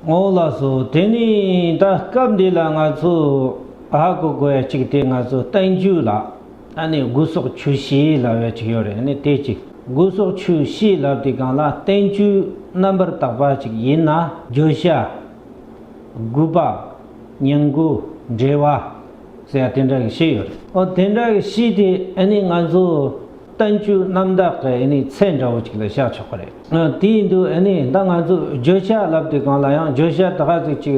ངོ་བོ་ལ་སོགས་དེ་ནི་ད་སྐབས་འདི་ལ་ང་ཚོ་ཨ་ཧ་གོ་དགོས་ཡ་གཅིག་དེ་ང་ཚོ་བསྟན་བཅོས་ལ་ཨ་ནི་དགུ་སོགས་ཆུ་བྱིས་ལབ་ཡ་གཅིག་ཡོད་རེད་ནི་དེ་གཅིག་དགུ་སོགས་ཆུ་བྱིས་ལབ་དེ་གང་ལ་བསྟན་བཅོས་རྣམ་པར་དག་པ་གཅིག་ཡིན་ན། བརྗོད་བྱ། དགུ་པ། ཉིང་དགུ། འབྲེལ་བ། ཟེར་ཡ་དེ་འདྲ་གི་བྱིས་ཡོད་རེད། ཨོ་དེ་འདྲ་གི་བྱིས་དེ་ཨ་ནི་ང་ཚོ། ལྟ་མཇུག་རྣམ་དག་གི་ཨེ་ནི་ཚད་འདྲ་བོ་ཅིག་ལ་བཞག་ཆོག་པ་རེད། དེ་ཡིན་དུས་ཨེ་ནི་ད་ང་ཚོས་བརྗོད་བྱ་ལབ་དེ་གང་ལ་ཡང་བརྗོད་བྱ་དག་གཟིགས་ཅིག་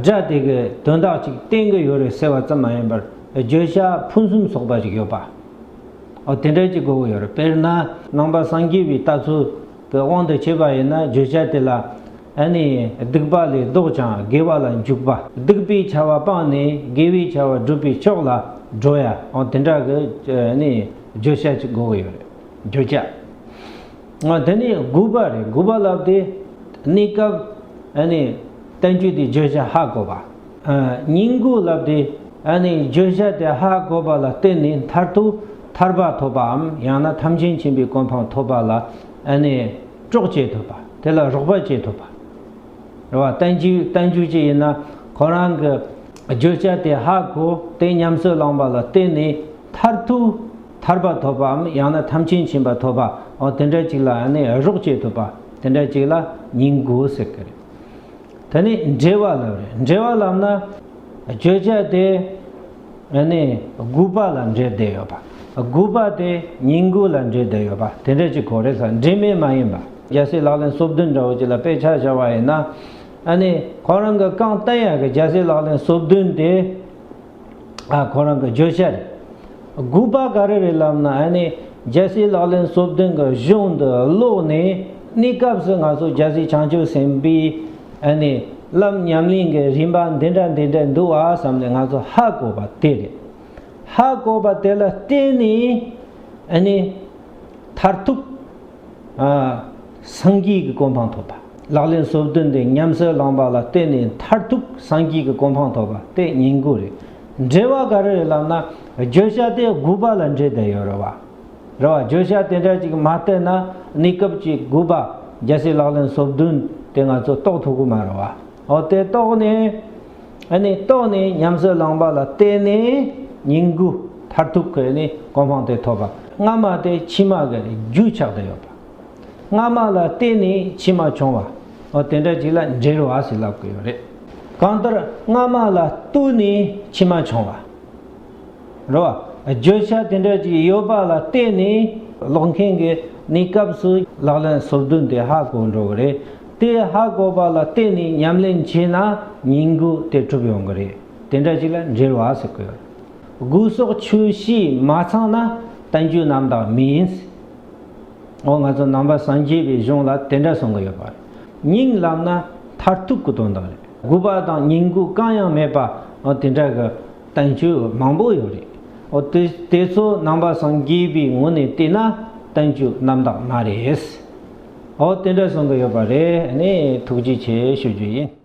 སྒྲ་དེ་གི་དོན་དག་ཅིག་བསྟན་གི་ཡོད་རེད་ཟེར་བ་ཙམ་མ་ཡིན་པར་བརྗོད་བྱ་ཕུན་སུམ་ཚོགས་པ་ཞིག་ཡོད་པའོ། དེ་འདྲ་ཅིག་དགོས་ཀྱི་ཡོད་རེད་དཔེར་ན། ནང་པ་སངས་རྒྱས་པའི་ལྟ་ཚུལ། གི་དབང་དུ་བྱས་པ་ཡིན་ན་བརྗོད་བྱ་དེ་ལ་ནི་སྡིག་པ་ལས་བཟློག་ཀྱང་དགེ་བ་ལ་འཇུག་པ་སྡིག་པའི་བྱ་བ་སྤངས་ནས་དགེ་བའི་བྱ་བ་བསྒྲུབ་པའི་ཕྱོགས་ལ་འགྲོ་ཡའང་དེ་འདྲ་གི་ནི་བརྗོད་བྱ་གཅིག་དགོས་ཀྱི་ཡོད་རེད། བརྗོད་བྱ་དེ་ནི་དགུ་པ་རེད་དགུ་པ་ལབ་སྟེ་གནས་སྐབས་ནི་བསྟན་བཅོས་དེ་བརྗོད་བྱ་ཧ་གོ་བ། སྙིང་གུས་ལབ་སྟེ་བརྗོད་བྱ་དེ་ཧ་གོ་བ་ལ་བརྟེན་ནས་མཐར་ཐུག་ཐར་པ་ཐོབ་པའམ་ཡང་ན་ཐམས་ཅད་མཁྱེན་པའི་གོ་འཕང་ཐོབ་པ་ལ་གྲོགས་བྱེད་ཐུབ་པ་དེ་ལ་རོགས་པ་བྱེད་ཐུབ་པ། རེ་བ་བརྟན་བཞུགས་ཅི་ཡིན་ན་ཁོ་རང་གི་བརྗོད་བྱ་དེ་ཧ་གོ་སྟེ་ཉམས་སུ་བླངས་པ་ལ་བརྟེན་ནས་མཐར་ཐུག་ཐར་པ་ཐོབ་པའམ་ཡང་ན་ཐམས་ཅད་མཁྱེན་པ་ཐོབ་པའོ་དེ་འདྲ་ཅིག་ལ་རོགས་བྱེད་ཐུབ་པ་དེ་འདྲ་ཅིག་ལ་སྙིང་གུས་ཟེར་གྱི་རེད། དེ་ནི་འབྲེལ་བ་ལམ་རེད། འབྲེལ་བ་ལམ་ན་བརྗོད་བྱ་དེ་ནི་དགུ་པ་ལ་འབྲེལ་བསྡད་ཡོད་པ། དགུ་པ་དེ་ཉིང་དགུ་ལ་འབྲེལ་བསྡད་ཡོད་པ་དེ་འདྲ་ཅིག་གོ་རེ་ས་འབྲེལ་མེད་མ་ཡིན་པ། རྒྱལ་སྲས་ལག་ལེན་སོ་བདུན་འདྲ་བོ་ཅིག་ལ་དཔེ་ཆ་བཞག་པ་ཡིན་ན། ཁོང་རང་གི་རྐང་སྟན་ཡར་གྱི་རྒྱལ་སྲས་ལག་ལེན་སོ་བདུན་དེ། ཁོང་རང་གི་བརྗོད་བྱ་རེད། སྒུག་པ་ག་རེ་རེད་ལབ་ན་ཨ་ནེ་རྒྱལ་སྲིད་ལག་ལེན་གསོ་བདུན་གྱི་གཞུང་འདི་ཀློག་ནས་གནས་སྐབས་སུ་ང་ཚོ་རྒྱལ་སྲིད་བྱང་ཆུབ་སེམས་དཔའི་ཨ་ནེ་ལམ་ཉམས་ལེན་གྱི་རིམ་པ་འདི་འདྲ་འདི་འདྲ་འདུག་ཨ་བསམ་ནས་ང་ཚོ་ཧ་གོ་བ་དེ་རེད། ཧ་གོ་བ་དེ་ལ་བརྟེན་ནས་ཨ་ནེ་མཐར་ཐུག། སངས་རྒྱས་ཀྱི་གོ་འཕང་ཐོབ་པ། ལག་ལེན་སོ་བདུན་དེ་ཉམས་སུ་བླངས་པ་ལ་བརྟེན་ནས་མཐར་ཐུག་སངས་རྒྱས་ཀྱི་གོ་འཕང་ཐོབ་པ་སྟེ་ཉིང་དགུ་རེད། འགྲེལ་བ་ག་རེ་རེད་ལབ་ན་བརྗོད་བྱ་སྟེ་དགུ་པ་ལ་འགྲེལ་བསྡད་ཡོད་རེད་བ། རེད་བ་བརྗོད་བྱ་དེ་འདྲ་ཅིག་མ་བལྟས་ན་གནས་སྐབས་ཀྱི་དགུ་པ་རྒྱལ་སྲིད་ལག་ལེན་སོ་བདུན་དེ་ང་ཚོ་རྟོགས་ཐུབ་གི་མ་རེད་བ། འོ་དེ་རྟོགས་ནས། ཨ་ནི་རྟོགས་ནས་ཉམས་སུ་བླངས་པ་ལ་བརྟེན་ནས་ཉིང་དགུ་མཐར་ཐུག་གི་ནི་གོ་འཕང་དེ་ཐོབ་པ། སྔ་མ་དེ་ཕྱི་མ་གི་རྒྱུ་ཆགས་དུ་ཡོད་པ། སྔ་མ་ལ་བརྟེན་ནས་ཕྱི་མ་བྱུང་བ། འོ་དེ་འདྲ་ཅིག་ལ་འབྲེལ་བ་ཞིག་ལབ་དགོས་ཡོད་རེད། གང་ལྟར་སྔ་མ་ལ་བསྟུན་ནས་ཕྱི་མ་བྱུང་བ། རེད་བ། བརྗོད་བྱ་དེ་འདྲ་ཅིག་ཡོད་པ་ལ་བརྟེན་ནས་ཀློག་མཁན་གྱི་ནི་སྐབས་སུ་ལག་ལེན་སོ་བདུན་དེ་ཧ་གོ་འགྲོ་གི་རེད། དེ་ཧ་གོ་བ་ལ་བརྟེན་ནས་ཉམས་ལེན་བྱས་ན་ཉིང་དགུ་དེ་གྲུབ་ཡོང་གི་རེད་དེ་འདྲ་ཞིག་ལ་འབྲེལ་བ་ཟེར་གི་ཡོད། དགུ་སོགས་ཆུ་བཞི་མ་ཚང་ན་བསྟན་བཅོས་རྣམ་དག་མིན། འོ་ང་ཚོ་ནང་པ་སངས་རྒྱས་པའི་གཞུང་ལ་དེ་འདྲ་གསུང་གི་ཡོད་པ་རེད། ཉིང་ལབ་ན་མཐར་ཐུག་གི་དོན་དག་རེད། དགུ་པ་དང་ཉིང་དགུ་གང་ཡང་མེད་པ་དེ་འདྲ་གི་བསྟན་བཅོས་མང་པོ་ཡོད་རེད། འོ་དེ་ཚོ་ནང་པ་སངས་རྒྱས་པའི་ངོ་ནས་བལྟས་ན་བསྟན་བཅོས་རྣམ་དག་མ་རེད། ཨོ་དེ་འདྲ་གསུང་གི་ཡོད་པ་རེད་ནས་ཐུགས་རྗེ་ཆེ་ཞུ་རྒྱུ་ཡིན།